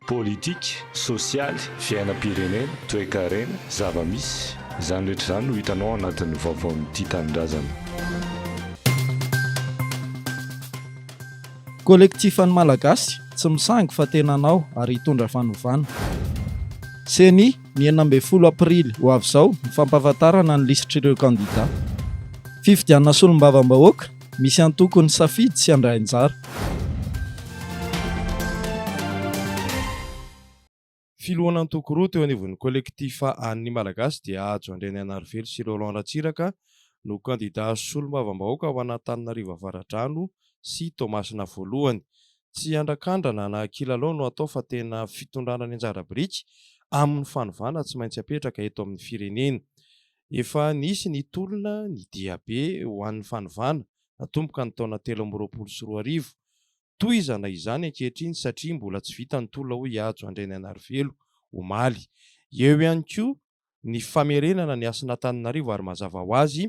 Politika, sosialy, fiainam-pirenena, toekarena, zava-misy, izany rehetra izany no hitanao ao anatin'ny vaovaon'ny Tia Tanindrazana. Kolektifan'ny Malagasy tsy misangy fa tena anao ary hitondra fanovana. Ceni, Ny enina ambin'ny folo aprily ho avy izao ny fampahafantarana ny lisitr'ireo kandidà. Fifidianana solombavambahoaka Misy antoko ny safidy sy handray anjara. Filohan'antoko roa teo anivon'ny Collectif An' ny Malagasy dia Hajo Andrianianarivelo sy Roland Ratsiraka no kandida solombavambahoaka ho an'Antananarivo Avaradrano sy Toamasina voalohany. Tsy andrakandrana na kilalao no atao fa tena fitondrana ny anjara biriky amin'ny fanovana tsy maintsy apetraka eto amin'ny firenena. Efa nisy ny tolona ny diabe ho an'ny fanovana natomboka ny taona telo amby roapolo sy roa arivo. Tohizana izany ankehitriny satria mbola tsy vita ny tolona hoy i Hajo Andrianainarivelo omaly. Eo ihany koa ny famerenana ny hasin'Antananarivo ary mazava ho azy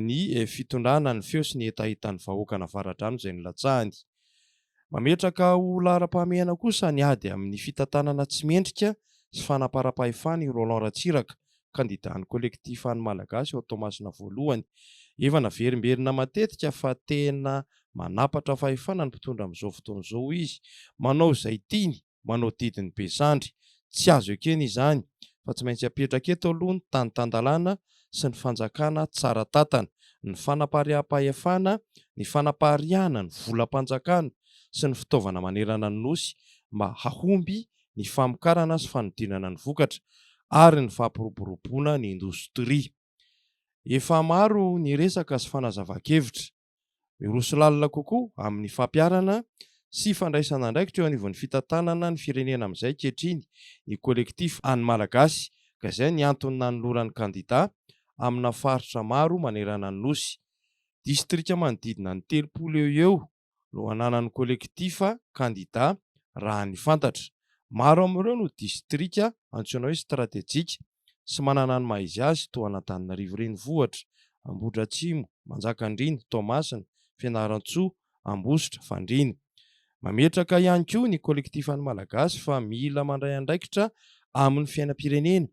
ny fitondrana ny feo sy ny hetahetan'ny vahoakan'Avaradrano izay nilatsahany. Mametraka ho laharam-pahamehana kosa ny ady amin'ny fitantanana tsy mendrika sy fanamparam-pahefana i Roland Ratsiraka, kandidan'ny Kolektifa An'ny Malagasy ao Toamasina Voalohany. Efa naverimberina matetika fa tena manapatra fahefana ny mpitondra amin'izao fotoana izao izy. Manao izay tiany. manao didy ny be sandry. Tsy azo ekena izany fa tsy maintsy apetraka eto aloha ny tany tan-dalàna sy ny fanjakana tsara tantana, ny fanapariaham-pahefana, ny fanapariahana ny volam-panjakana sy ny fitaovana manerana ny Nosy mba hahomby ny famokarana sy fanodinana ny vokatra ary ny fampiroboroboana ny indostria. Efa maro ny resaka sy fanazavan-kevitra. Miroso lalina kokoa amin'ny fampiharana sy fandraisana andraikitra eo anivon'ny fitantanana ny firenena amin'izay ankehitriny ny Collectif Any Malagasy ka izay ny antony nanolorany kandida amina faritra maro manerana ny Nosy. Distrika manodidina ny telopolo eo ho eo no ananan'ny Collectif kandida raha ny fantatra. Maro amin'ireo no distrika antsoina hoe stratejika. sy manana ny maha izy azy toa an'Antananarivo renivohitra, Ambohidratrimo, Manjakandriana, Toamasina, Fianarantsoa, Ambositra, Fandriana. Mametraka ihany koa ny Kolektifan'ny Malagasy fa mila mandray andraikitra amin'ny fiainam-pirenena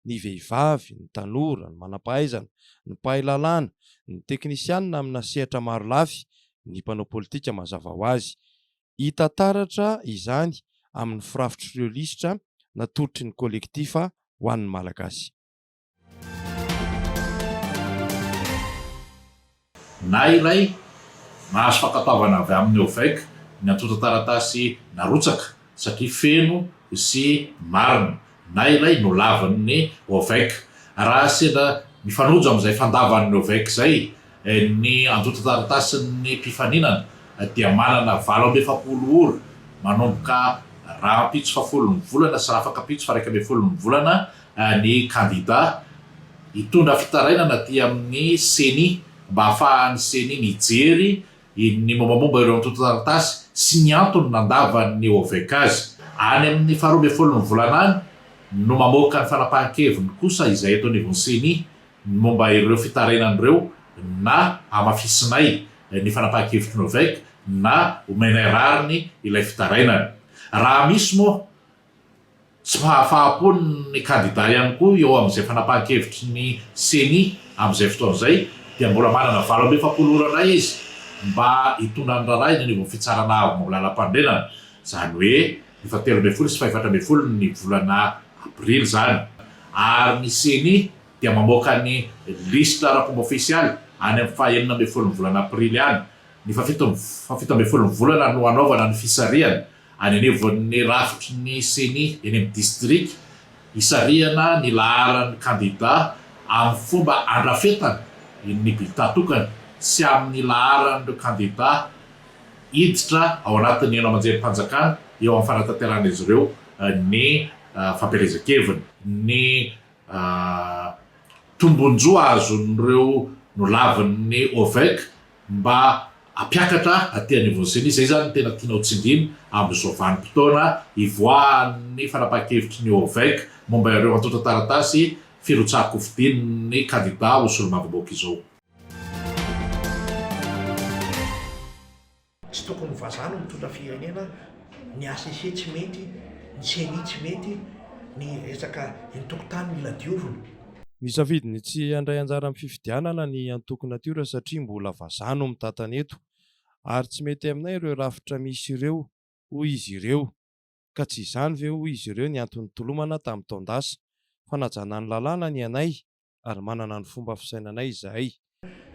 ny vehivavy, ny tanora, ny manam-pahaizana, ny mpahay lalàna, ny teknisianina amina sehatra marolafy, ny mpanao politika mazava ho azy. Hita taratra izany amin'ny firafitr'ireo lisitra natolotry ny Kolektifa ho an'ny Malagasy. Na iray, nahazo fankatoavana avy amin'ny OVEC ny antontan-taratasy narotsaka satria feno sy marina na ilay nolavin'ny Ovec raha sendra mifanojo amin'izay fandavan'ny Ovec izay, ny antontan-taratasin'ny mpifaninana dia manana valo amby efapolo ora manomboka rahampitso fahafolon'ny volana sy rahafakampitso faharaika ambin'ny folon'ny volana ny kandida hitondra fitarainana aty amin'ny Ceni mba hahafahan'ny Ceni mijery ny mombamomba ireo antontan-taratasy sy ny antony nandavan'ny OVECA azy. Any amin'ny faharoa ambin'ny folon'ny volana any no mamoaka ny fanapahan-keviny kosa izay eto anivon'ny Ceni ny momba ireo fitarainany ireo na hamafisinay ny fanapahan-kevitry ny OVECA na homenay rariny ilay fitarainana. Raha misy moa Tsy fahafaha-po ny kandida ihany koa eo amin'izay fanapahan-kevitry ny Ceni amin'izay fotoana izay dia mbola manana valo amby efapolo ora indray izy mba hitondra ny raharaha eny anivon'ny fitsarana avo lalam-panorenana, izany hoe ny fahatelo ambin'ny folo sy fahefatra ambin'ny folo ny volana aprily izany ary ny Ceni dia mamoaka ny lisitra ara-pomba ofisialy any amin'ny fahenina ambin'ny folo ny volana aprily any, ny fahafito ambin'ny folo ny volana no hanaovana ny fisarihana. Any anivon'ny rafitry ny Ceni eny amin'ny distrika, hisarihana ny laharan'ny kandidà amin'ny fomba andrafetana ny bilità tokana sy amin'ny laharan'ireo kandidà hiditra ao anatin'ny haino aman-jerim-panjakana eo amin'ny fanatanterahan'izy ireo ny fampielezan-keviny. Ny tombon-jo azon'ireo nolavin'ny OVEC mba hampiakatra aty anivon'ny ceni, izay izany no tena tianao tsindrina amin'izao vanim-potoana hivoahan'ny fanapahan-kevitry ny OVEC momba ireo antontan-taratasy firotsahan-kofidin'ny kandida ho solombavambahoaka izao. Tsy tokony ho vazaha no mitondra firenena, ny HCC tsy mety, ny ceni tsy mety, ny resaka eny tokontany mila diovina. Nisafidy ny tsy handray anjara amin'ny fifidianana ny antoko Natiora satria mbola vazaha no mitantana eto ary tsy mety aminay ireo rafitra misy ireo, hoy izy ireo. Ka tsy izany ve, hoy izy ireo, ny antony nitolomana tamin'ny taon-dasa? Fanajana ny lalàna ny anay ary manana ny fomba fisainanay izahay.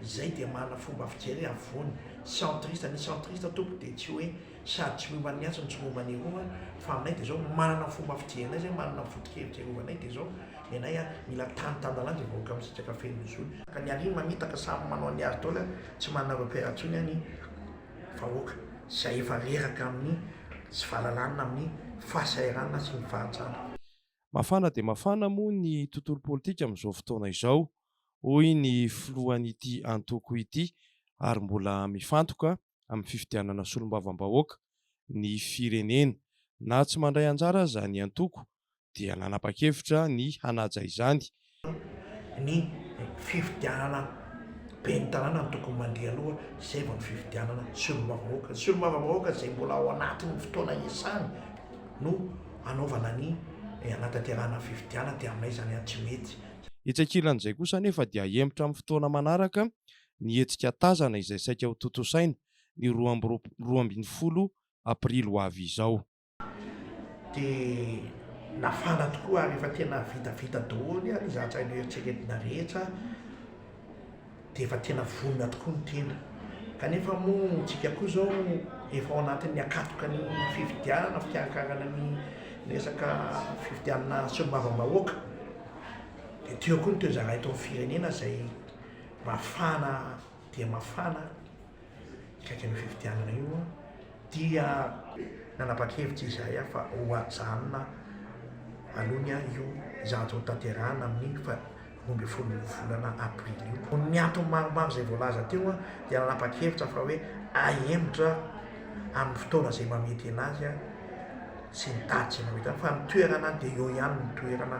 Izay dia manana fomba fijery afovoany, centriste, ny centriste tompoko dia tsy hoe sady tsy miomba an'ny atsy no tsy miomba ny aroa fa aminay dia zao manana fomba fijerinay zay manana foto-kevitra iarovanay dia zao ny anay a mila tany tan-dalàna zay vahoaka misitraka feno ny zony ka ny aria mamitaka samy manao ny ady dôla tsy manana repère intsony a ny vahoaka zay efa reraka amin'ny tsy fahalalana amin'ny fahasahiranana sy ny fahantrana. Mafana dia mafana moa ny tontolo politika amin'izao fotoana izao. hoy ny filohan'ity antoko ity ary mbola mifantoka amin'ny fifidianana solombavambahoaka ny firenena. Na tsy mandray anjara aza ny antoko dia nanapa-kevitra ny hanaja izany. Ny fifidianana ben'ny tanàna no tokony mandria aloha izay vao ny fifidianana solombavambahoaka. Ny solombavambahoaka izay mbola ao anatin'ny fotoana iasany no hanaovana ny hanatanterahana fifidianana dia aminay izany tsy mety. Etsy ankilan'izay kosa anefa dia hahemotra amin'ny fotoana manaraka ny hetsika Tazana izay saika ho tontosaina ny roa amby roapolo ambin'ny folo aprily ho avy izao. Dia nafana tokoa ary efa tena vitavita daholo ary izaho tsy hay noeritreretina rehetra. dia efa tena vonona tokoa ny tena kanefa moa tsika koa zao efa ao anatin'ny akatoka ny fifidianana fikarankarana ny resaka fifidianana solombavambahoaka dia teo koa ny toezara eto amin'ny firenena izay mafana dia mafana akaikin'ny fifidianana io dia nanapa-kevitra izahay fa ho ajanona aloha ny ahy io, izany tsy hotanterahina amin'iny fa roa ambin'ny folo volana aprily io. Noho ny antony maromaro izay voalaza teo dia nanapa-kevitra fa hoe ahemotra amin'ny fotoana izay mahamety anazy sy ny daty izay mahamety anazy fa ny toerana dia eo ihany ny toerana.